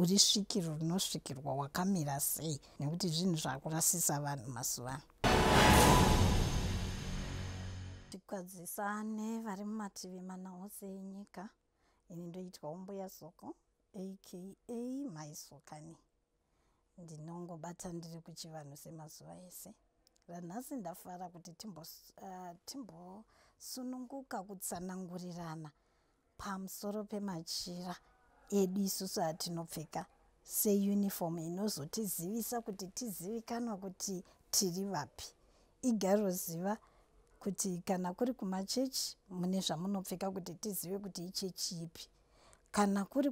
uri svikiro rinosvikirwa wakamira sei nekuti zvinhu zvakurasisa vanhu mazuva ano tikwadzisane vari mumativi mana ose enyika ini ndoitwa umbuya soko aka maisokani ndinongobata ndiri kuchivanhu semazuva ese ranhasi ndafara kuti timbosununguka ah, uh, timbo kutsanangurirana pamusoro pemachira edu isusu atinopfeka seuniform inozotizivisa kuti tizivikanwa kuti tiri vapi igaroziva kuti kana kuri kumachechi mune zvamunopfeka kuti tizive kuti ichechi ipi kana kuri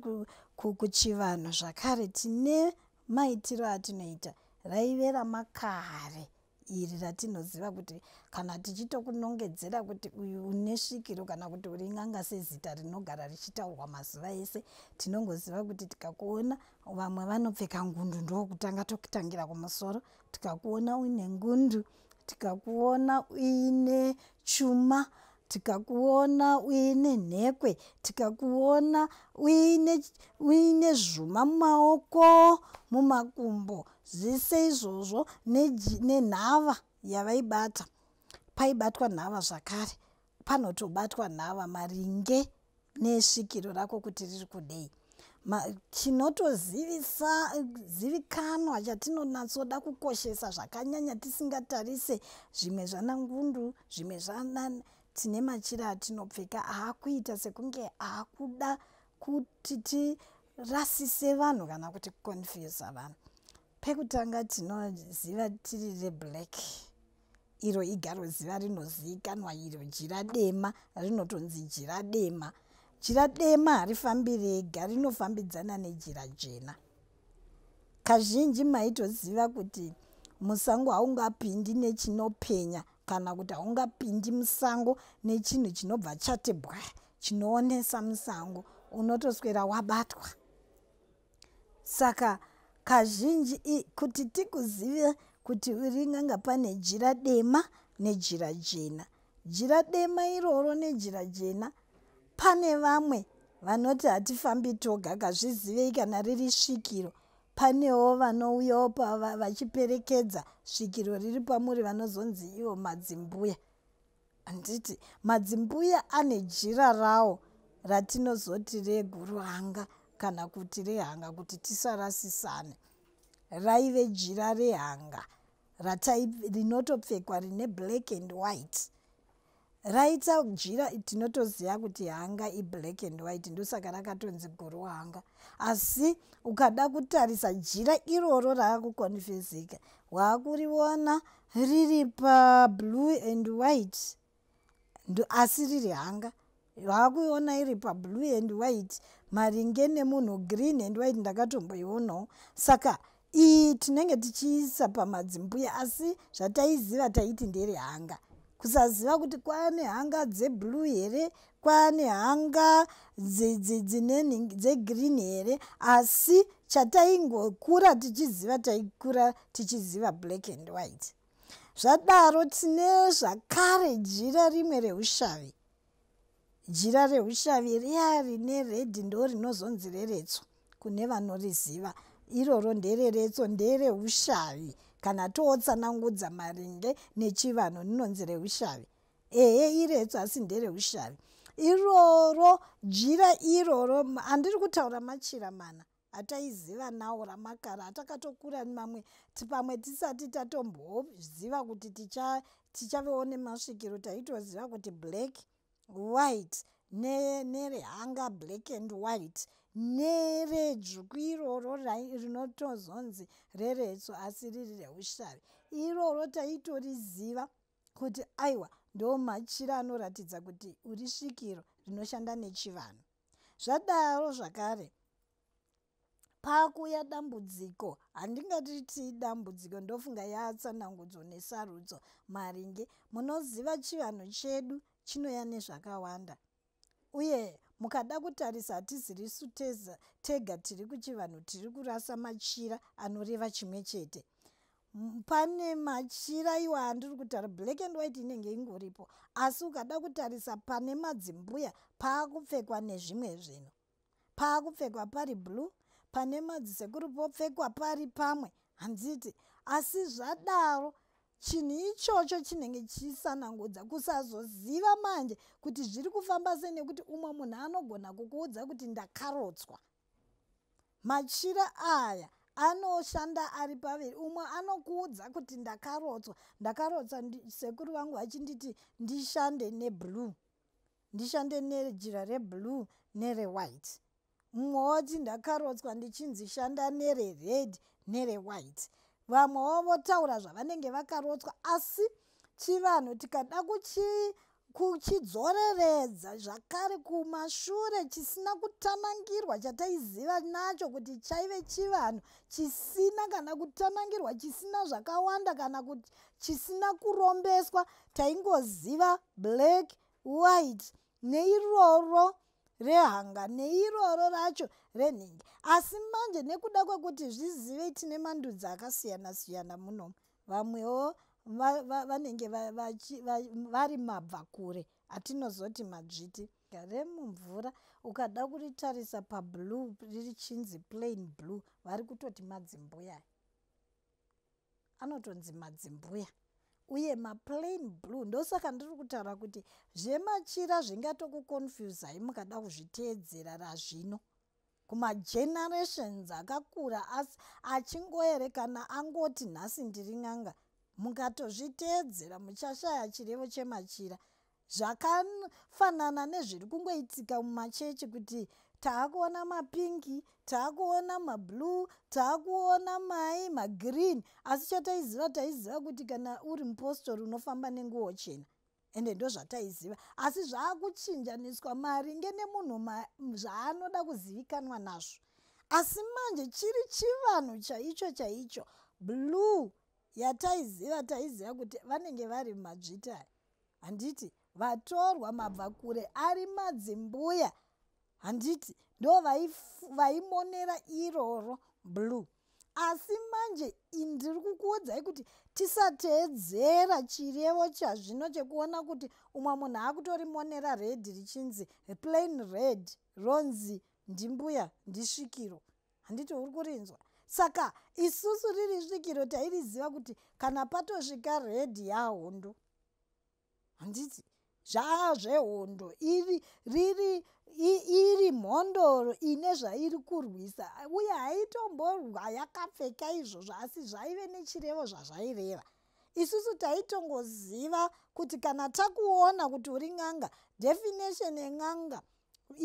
kuchivanhu zvakare tine maitiro atinoita raive ramakare iri ratinoziva kuti kana tichitokunongedzera kuti uyu une svikiro kana kuti uri n'anga sezita rinogara richitaurwa mazuva ese tinongoziva kuti tikakuona vamwe vanopfeka ngundu ndokutanga tokutangira kumusoro tikakuona uine ngundu tikakuona uine chuma tikakuona uine nhekwe tikakuona uine zvuma mumaoko mumakumbo zvese izvozvo nenhava ne yavaibata paibatwa nhava zvakare panotobatwa nhava maringe nesvikiro rako kuti riri kudei chinotozivisa zivikanwa chatinonatsoda kukoshesa zvakanyanya tisingatarise zvimwe zvana ngundu zvimwe zvana tine machira atinopfeka aakuita sekunge aakuda kuti ti rasise vanhu kana kuti confuse vanhu pekutanga tinoziva tiri reblack iro igaro ziva rinozivikanwa iro jira dema rinotonzi jira dema jira dema harifambi rega rinofambidzana nejira jena kazhinji maitoziva kuti musango haungapindi nechinopenya kana kuti haungapindi musango nechinhu chinobva chati bwa chinoonesa musango unotoswera wabatwa saka kazhinji kuti tikuzive kuti uri nganga pane jira dema nejira jena jira dema iroro nejira jena pane vamwe vanoti hatifambi toga kazvizivei kana riri svikiro Panewo vanouyawo pava vachiperekedza svikiro riri pamuri vanozonzi ivo madzimbuya. Handiti madzimbuya ane jira rawo ratinozoti reguruhanga kana kuti rehanga kuti tisarasisane. Raive jira rehanga ratai rinotopfekwa rine black and white. raita jira tinotoziva kuti hanga iblack and white ndosaka rakatonzi guru hanga asi ukada kutarisa jira iroro raakukonfezika waakuriona riri pablue and white asi riri hanga vakuiona iri pablue and white maringe nemunhu green and white ndakatomboionawo saka iyi tinenge tichiisa pamadzimbuya asi zvataiziva taiti ndere hanga kusaziva kuti kwane hanga dzeblue here kwane hanga dzineni dzegreen here asi chataingokura tichiziva taikura tichiziva black and white zvadaro tine zvakare jira rimwe reushavi jira reushavi riya rine redhi ndo rinozonzi reretso kune vanoriziva iroro ndereretso ndereushavi kana tootsanangudza maringe nechivanhu rinonzi reushavi ehe iretso asi ndereushavi iroro jira iroro handiri kutaura machira mana ataiziva nawo ramakara atakatokura mamwe tipamwe tisati tatomboziva kuti ticha tichavewo nemasvikiro taitoziva kuti black white nerehanga ne black and white neredzvuku iroro rinotozonzi reretso asi riri reushavi iroro taitoriziva kuti aiwa ndomachira anoratidza kuti uri svikiro rinoshanda nechivanhu zvadaro zvakare pakuya dambudziko handingatiti dambudziko ndofunga yatsanangudzo nesarudzo maringe munoziva chivanhu chedu chinoya nezvakawanda uye mukada kutarisa hatizirisu tega tiri kuchivanhu tiri kurasa machira anoreva chimwe chete pane machira iwo andiri kutaura black and white inenge ingoripo asi ukada kutarisa pane madzimbuya paakupfekwa nezvimwe zvinhu paakupfekwa pari blue pane madzisekuru popfekwa pari pamwe handiti asi zvadaro chinhu ichocho chinenge chisanangudza kusazoziva manje kuti zviri kufamba sei nekuti umwe munhu anogona kukuudza kuti ndakarotswa machira aya anoshanda ari paviri umwe anokuudza kuti ndakarotswa ndakarotswa sekuru vangu vachinditi ndishande neblue ndishande nejira reblue nerewhite mumwe woti ndakarotswa ndichinzi shanda nerered nerewhite vamwewo votaura zvavanenge vakarotswa asi chivanhu tikada kuchii kuchidzoreredza zvakare kumashure chisina kutanangirwa chataiziva nacho kuti chaive chivanhu chisina kana kutanangirwa chisina zvakawanda kana kuti chisina kurombeswa taingoziva black white neiroro rehanga neiroro racho renhingi asi manje nekuda kwekuti zvizivei tine mandudzi akasiyana siyana munomu vamwewo vanenge va, va, va, vari mabva kure atinozoti madzviti remumvura ukada kuritarisa pablue riri chinzi plain blue vari kutoti madzimbuya anotonzi madzimbuya uye maplain blue ndosaka ndiri kutaura kuti zvemachira zvingatokuconfusai mukada kuzviteedzera razvino kumagenerations akakura asi achingoerekana angoti nhasi ndiri n'anga mukatozviteedzera muchashaya chirevo chemachira zvakafanana nezviri kungoitika mumachechi kuti taakuona mapingi taakuona mablue taakuona mai magreen asi chataiziva taiziva kuti kana uri mupostori unofamba nenguwo chena ende ndozvataiziva asi zvaakuchinjaniswa maringe nemunhu zvaanoda kuzivikanwa nazvo asi manje chiri chivanhu chaicho chaicho blue yataiziva taiziva kuti vanenge vari madzvita handiti vatorwa mabva kure ari madzimbuya handiti ndo vaimonera iroro blue asi manje ndiri kukuudzai kuti tisateedzera chirevo chazvino chekuona kuti umwe munhu akutorimonera red richinzi plain red ronzi ndimbuya ndisvikiro handiti uri kurinzwa saka isusu riri svikiro tairiziva kuti kana patosvika redhi yahondo handiti zvaa zvehondo iri riri iri mhondoro ine zvairi kurwisa uye haitomborwa yakapfeka izvozvo asi zvaive nechirevo zvazvaireva isusu taitongoziva kuti kana takuona kuti uri n'anga definition yen'anga e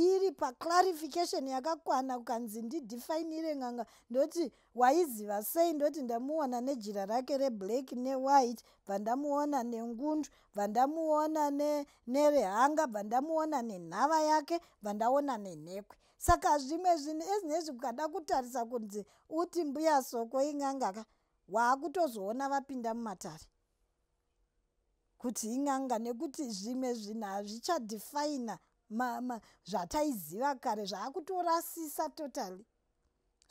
iri paclarification yakakwana kukanzi ndidefinire ng'anga ndoti waiziva sei ndoti ndamuona nejira rake reblack newhite bva ndamuona nengundu bva ndamuona nerehanga bva ndamuona nenhava yake bva ndaona nenhekwe saka zvimwe zvinhu ezinezvi kukada kutarisa kunzi uti mbuya soko ing'angaka waakutozoona vapinda mumatare kuti in'anga nekuti zvimwe zvinhu hazvichadefina zvataiziva kare zvaakutorasisa totally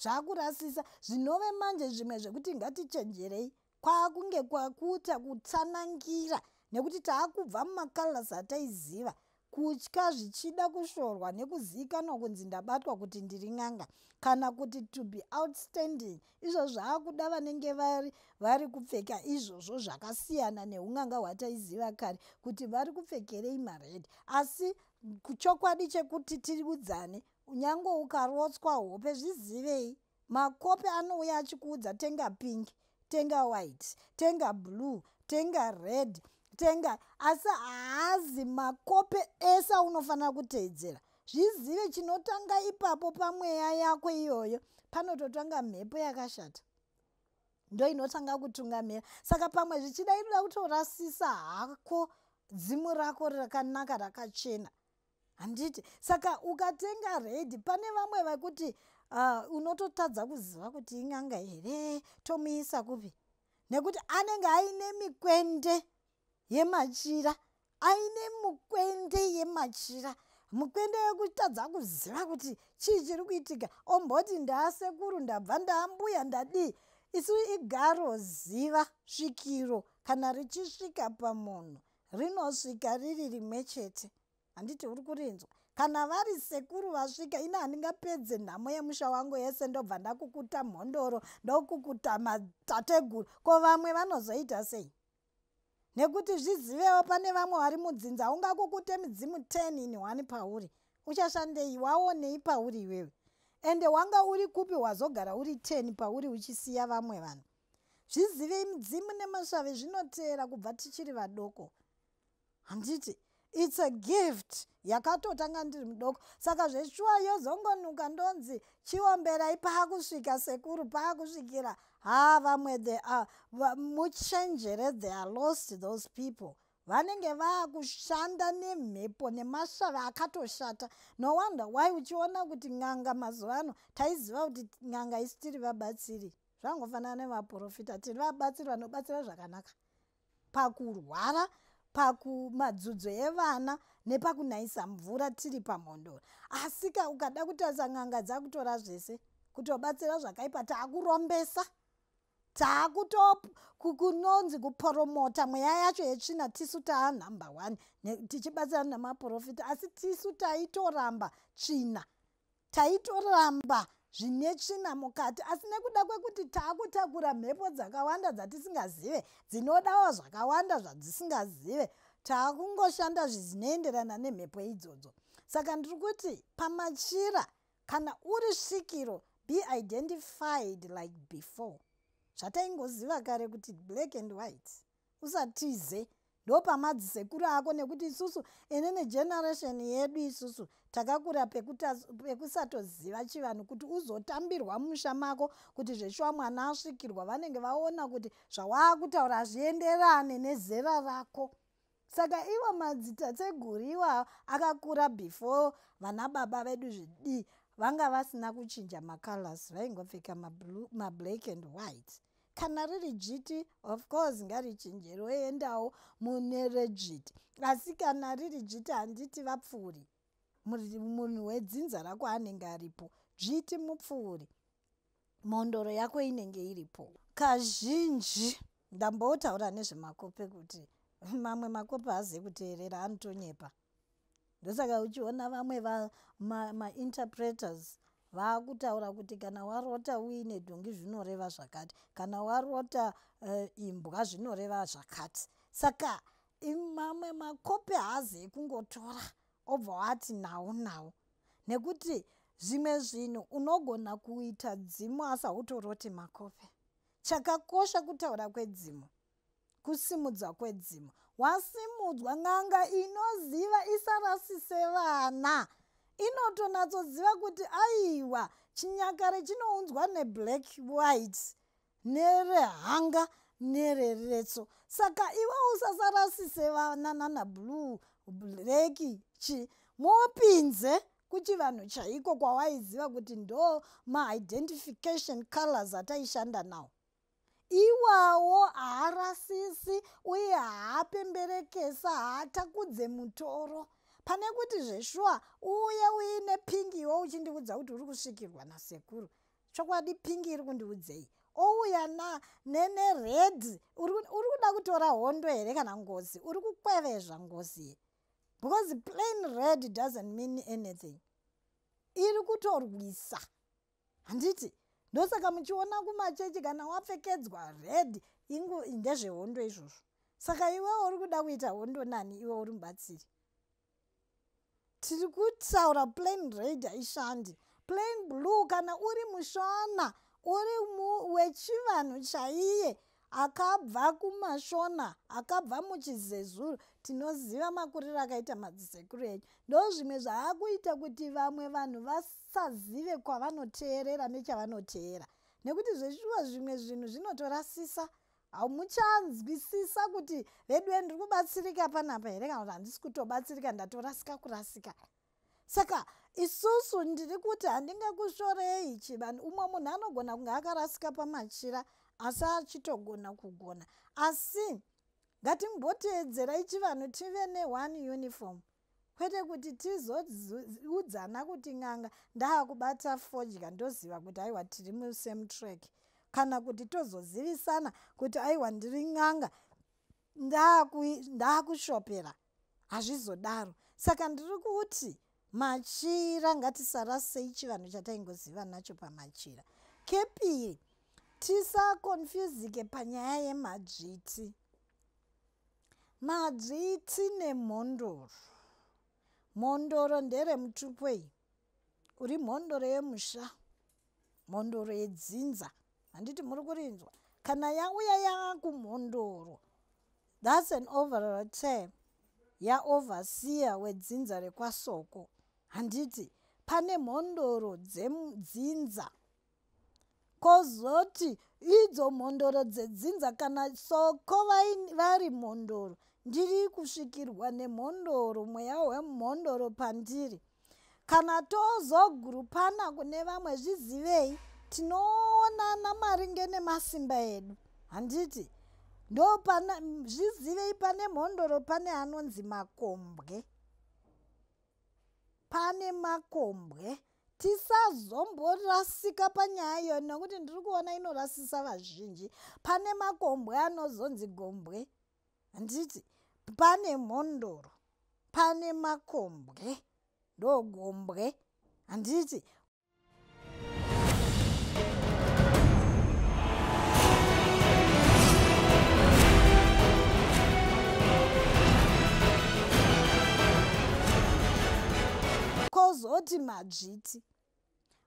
zvaakurasisa zvinove manje zvimwe zvekuti ngatichenjerei kwaakunge kwakuita kutsanangira nekuti taakubva mumacolors ataiziva kutya zvichida kushorwa nekuzivikanwa kunzi ndabatwa kuti ndiri n'anga kana kuti to be outstanding izvo zvaakuda vanenge vari vari kupfeka izvozvo zvakasiyana neun'anga hwataiziva kare kuti vari kupfekerei mared asi chokwadi chekuti tiudzane unyange ukarotswa hope zvizivei makope anouya achikuudza tenga pink tenga white tenga blue tenga red tenga asi haazi makope ese aunofanira kuteedzera zvizive chinotanga ipapo pamweya yako iyoyo panototanga mhepo yakashata ndo inotanga kutungamira saka pamwe zvichida inoda kutorasisa hako dzimu rako rakanaka rakachena handiti saka ukatenga redi pane vamwe vakuti uh, ah, unototadza kuziva kuti ing'anga here tomuisa kupi nekuti anenge aine mikwende yemachira aine mukwende yemachira mukwende wekutadza kuziva kuti chii chiri kuitika omboti ndaasekuru ndabva ndaambuya ndadii isu igaro ziva svikiro kana richisvika pamunhu rinosvika riri rimwe chete handiti uri kurinzwa kana vari sekuru vasvika ini handingapedze nhamo yemusha wangu yese ndobva ndakukuta mhondoro ndokukuta matateguru ko vamwe vanozoita sei nekuti zvizivewo pane vamwe vari mudzinza ungakukute midzimu 10 ini wani pauri uchashandei waonei pauri iwewe ende wanga uri kupi wazogara uri 10 pauri uchisiya vamwe vanhu zvizivei midzimu nemasvave zvinoteera kubva tichiri vadoko handiti its a gift yakatotanga ndiri mudoko saka zveshuwa yozongonuka ndonzi chiomberai paakusvika sekuru paakusvikira haa vamwe the a muchenjere the are lost those people vanenge vaakushanda nemhepo nemashavi akatoshata no wonder why uchiona kuti n'anga mazuva ano taiziva kuti n'anga isi tiri vabatsiri zvangofanana nevaprofita tiri vabatsiri vanobatsira zvakanaka pakurwara pakumadzudzo evana nepakunayisa mvura tiri pamhondoro asika ukada kutarisa n'anga dzakutora zvese kutobatsira zvakaipa taakurombesa taakutokunonzi kuporomota mweya yacho yetsvina tisu taa number one tichibatsira nemaprofita asi tisu taitoramba tsvina taitoramba zvine tsvina mukati asi nekuda kwekuti taakutakura mhepo dzakawanda dzatisingazive dzinodawo zvakawanda zvadzisingazive taakungoshanda zvizinoenderana nemhepo idzodzo saka ndiri kuti pamachira kana uri svikiro be identified like before zvataingoziva kare kuti black and white usatize ndopamadzisekuru ako nekuti isusu ine negeneration yedu isusu takakura pekusatoziva chivanhu kuti uzotambirwa musha mako kuti zveshuwa mwana asvikirwa vanenge vaona kuti zvawaakutaura hazvienderane nezera rako saka ivo madzitatseguru iwawo akakura before vana baba vedu zvidii vanga vasina kuchinja macolors vaingopfeka mablack and white kana riri dzviti of course ngarichinje roendawo mune redzviti asi kana riri dzviti handiti vapfuuri munhu wedzinza rako anenge aripo dzviti mupfuuri mhondoro yako inenge iripo kazhinji ndambotaura nezvemakope kuti mamwe makope haazive kuteerera anotonyepa ndosaka uchiona vamwe mainterpreters ma vaakutaura kuti kana warota uine dhongi zvinoreva zvakati kana warota uh, imbwa zvinoreva zvakati saka mamwe makope haazi ekungotora obva wati nawo nawo nekuti zvimwe zvinhu unogona kuita dzimu asi hautoroti makope chakakosha kutaura kwedzimu kusimudzwa kwedzimu wasimudzwa n'anga inoziva isarasise vana inotonatsoziva kuti aiwa chinyakare chinounzwa neblack white nerehanga nereretso saka iwe usasarasise vana nana blue black chi mopinze kuchivanhu chaiko kwawaiziva kuti ndo maidentification colors ataishanda nawo iwawo haarasisi uye haapemberekesa haatakudze mutoro pane kuti zveshuwa uye uine pingi iwo uchindiudza kuti uri kusvikirwa nasekuru chokwadi pingi iri kundiudzei ouya na nene red uri kuda kutora hondo here kana ngozi uri kukwevezva ngozi ye because plain red doesn't mean anything iri kutorwisa handiti ndosaka muchiona kumachechi kana wapfekedzwa red ingu ndezvehondo izvozvo saka iwewo uri kuda kuita hondo nani iwe uri mubatsiri tiri kutaura plain red haishandi plain blue kana uri mushona uri wechivanhu chaiye akabva kumashona akabva muchizezuru tinoziva makuriro akaita madzisekuru enyu ndo zvimwe zvaakuita kuti vamwe vanhu vasazive kwavanoteerera nechavanoteera nekuti zveshuwa zvimwe zvinhu zvinotorasisa hamuchanzwisisa kuti veduwe ndiri kubatsirika panapa here kana kuti handisi kutobatsirika ndatorasika kurasika, kurasika. saka isusu ndiri kuti handingakushorei chivanhu umwe munhu anogona kunge akarasika pamachira asi achitogona kugona asi ngatimboteedzerai chivanhu tive neone uniform kwete kuti tizoudzana kuti n'anga ndaakubata fodya ndoziva kuti aiwa tiri musame track kana kuti tozozivisana kuti aiwa ndiri n'anga ndaakushopera hazvizodaro saka ndiri kuti machira ngatisarasei chivanhu chataingoziva nacho pamachira kepiri tisakonfuzike panyaya yemadzviti madzviti nemhondoro mhondoro nderemutupo iyi uri mhondoro yemusha mhondoro yedzinza handiti muri kurinzwa kana yauya yakumhondoro thats an overall term yaoverseer wedzinza rekwasoko handiti pane mhondoro dzedzinza kozoti idzo mhondoro dzedzinza kana soko vari mhondoro ndiri kusvikirwa nemhondoro mweya wemhondoro pandiri kana tozogurupana kune vamwe zvizivei tinoonana maringe nemasimba edu handiti ndopana zvizivei pane mhondoro pane anonzi makombwe pane makombwe tisazomborasika panyaya iyo nokuti ndiri kuona inorasisa vazhinji pane makombwe anozonzi gombwe handiti pane mhondoro pane makombwe ndogombwe handiti kozoti madzviti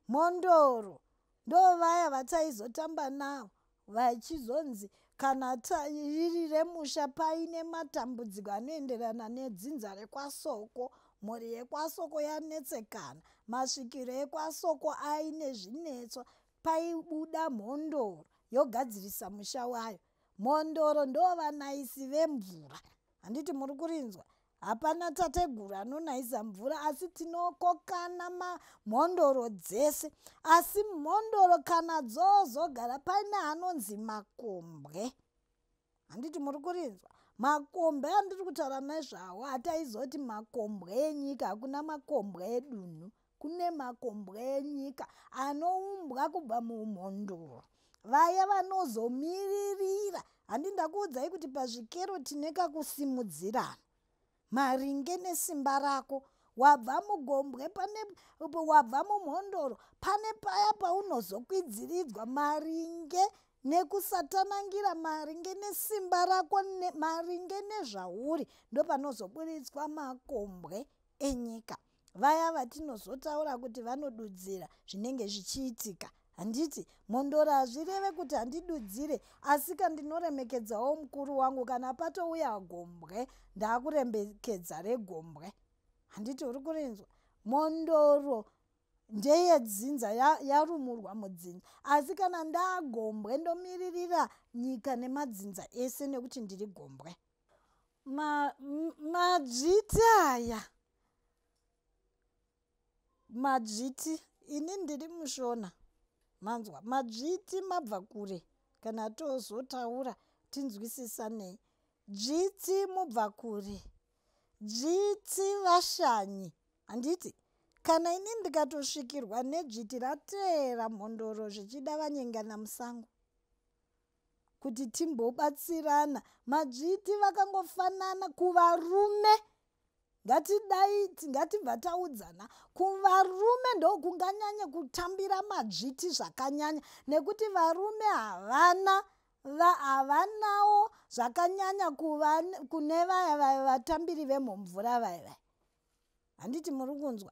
mhondoro ndovaya vataizotamba navo vachizonzi kana riri remusha paine matambudziko anoenderana nedzinza rekwasoko mhuri yekwasoko yanetsekana masvikiro ekwasoko aine zvinetso paibuda mhondoro yogadzirisa musha wayo mhondoro ndovanaisi vemvura handiti muri kurinzwa hapana tateguru anonaisa mvura asi tinokokana mamhondoro dzese asi mhondoro kana dzozogara paine anonzi makombwe handiti muri kurinzwa makombwe andiri kutaura nezvawo hataizoti makombwe enyika hakuna makombwe edunhu kune makombwe enyika anoumbwa kubva muumhondoro vaya vanozomiririra handi ndakuudzai kuti pazvikero tine kakusimudzirana maringe nesimba rako wabva mugombwe pane wabva mumhondoro pane paya paunozokwidziridzwa maringe nekusatanangira maringe nesimba rako ne, maringe nezvauri ndopanozoburitswa makombwe enyika vaya vatinozotaura kuti vanodudzira zvinenge zvichiitika handiti mhondoro hazvireve kuti handidudzire asika ndinoremekedzawo mukuru wangu kana patouya gombwe ndaakuremekedza regombwe handiti uri kurinzwa mhondoro ndeyedzinza yarumurwa ya mudzinza asi kana ndagombwe ndomiririra nyika nemadzinza ese nekuti ndiri gombwe madzviti ma aya madzviti ini ndiri mushona manzwa madzviti mabva kure kana tozotaura tinzwisisanei dzviti mubva kure dzviti vashanyi handiti kana ini ndikatosvikirwa nedzviti rateera mhondoro zvichida vanyengana musango kuti timbobatsirana madzviti vakangofanana kuvarume ngatidaiti ngatibva taudzana kuvarume ndokunganyanye kutambira madzviti zvakanyanya nekuti varume havana havanawo zvakanyanya kune vaya vaya vatambiri vemumvura vaya vaya handiti muri kunzwa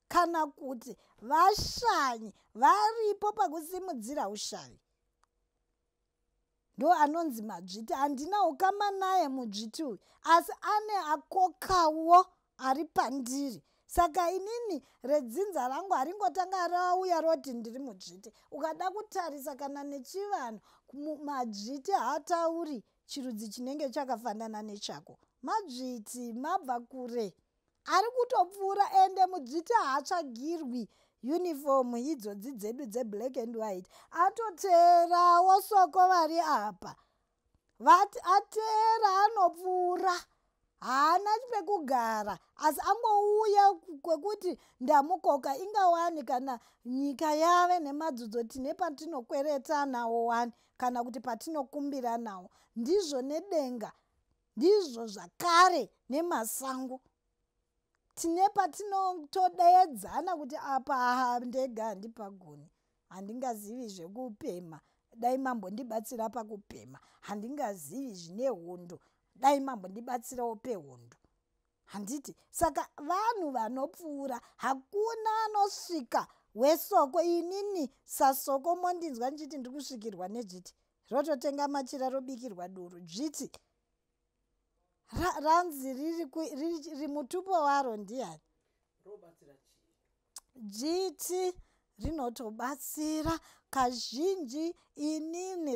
kana kuti vashanyi varipo pakusimudzira ushavi ndo anonzi madzviti handina ukama naye mudzviti uyu asi ane akokawo ari pandiri saka inini redzinza rangu haringotanga rauya roti ndiri mudzviti ukada kutarisa kana nechivanhu madzviti haatauri chirudzi chinenge chakafanana nechako madzviti mabva kure ari kutopfuura ende mudzviti haatsvagirwi uniform idzodzi dzedu dzeblack and white atoteerawo soko vari apa vati ateera anopfuura haana pekugara asi angouya kwekuti ndamukoka inga wani kana nyika yave nemadzudzo tine patinokweretanawo wani kana kuti patinokumbiranawo ndizvo nedenga ndizvo zvakare nemasango tine patinotodeedzana kuti apa ha ndega handipagoni handingazivi zvekupema dai mambo ndibatsira pakupema handingazivi zvine hondo dai mambo ndibatsirawo pehondo handiti saka vanhu vanopfuura hakuna anosvika wesoko inini sasoko mondinzwa ndichiti ndiri kusvikirwa nedzviti rototenga machira robikirwa doro dzviti ranzi riri mutupo waro ndiani dzviti rinotobatsira kazhinji inini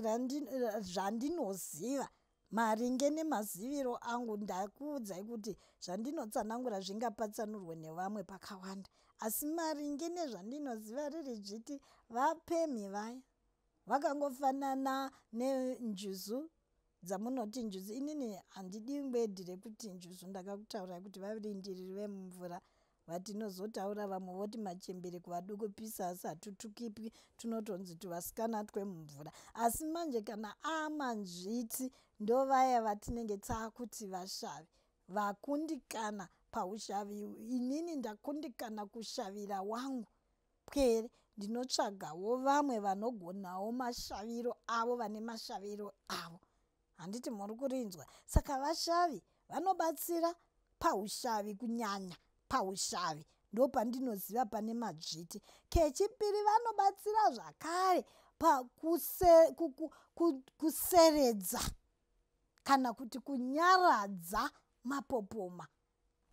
zvandinoziva maringe nemaziviro angu ndakuudzai kuti zvandinotsanangura zvingapatsanurwe nevamwe pakawanda asi maringe nezvandinoziva riri dzviti vapemhi vaya vakangofanana nenjuzu dzamunoti njuzu inini handidi ngwedhi rekuti njuzu ndakakutaurai kuti varindiriri vemumvura vatinozotaura vamwe voti machembere kuvaduku pisa asi hatutukipwi tunotonzi tuvasikana twemumvura asi manje kana amanzviti ndovaya vatinenge taakuti vashavi vakundikana paushavi inini ndakundikana kushavira wangu pwere ndinotsvagawo vamwe vanogonawo mashaviro avo vane mashaviro avo handiti muri kurinzwa saka vashavi vanobatsira paushavi kunyanya paushavi ndopandinoziva pane madzviti kechipiri vanobatsira zvakare pakuseredza kana kuti kunyaradza mapopoma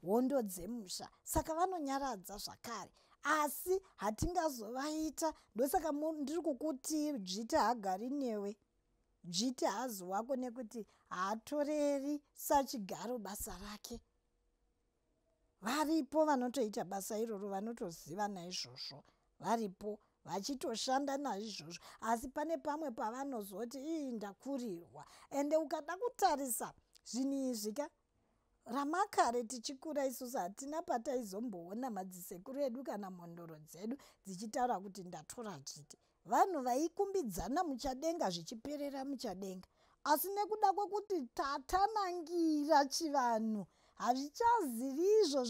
hondo dzemusha saka vanonyaradza zvakare asi hatingazovaita ndosaka ndiri kukuti dzviti haagari newe dzviti haazi wako nekuti haatoreri sachigaro basa rake varipo vanotoita basa iroro vanotoziva naizvozvo varipo vachitoshanda naizvozvo asi pane pamwe pavanozoti ii ndakurirwa ende ukada kutarisa zvinhu izvi ka ramakare tichikura isusu hatina pataizomboona madzisekuru edu kana mhondoro dzedu dzichitaura kuti ndatora chiti vanhu vaikumbidzana muchadenga zvichiperera muchadenga asi nekuda kwekuti tatanangira chivanhu hazvichazivi izvo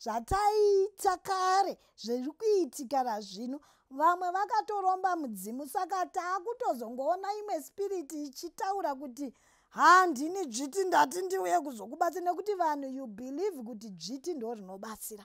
zvataiita kare zviri kuitika razvino vamwe vakatoromba mudzimu saka taakutozongoona imwe spiriti ichitaura kuti haa ndini dzviti ndati ndiuye kuzokubatsira nekuti vanhu you believe kuti dzviti ndo rinobatsira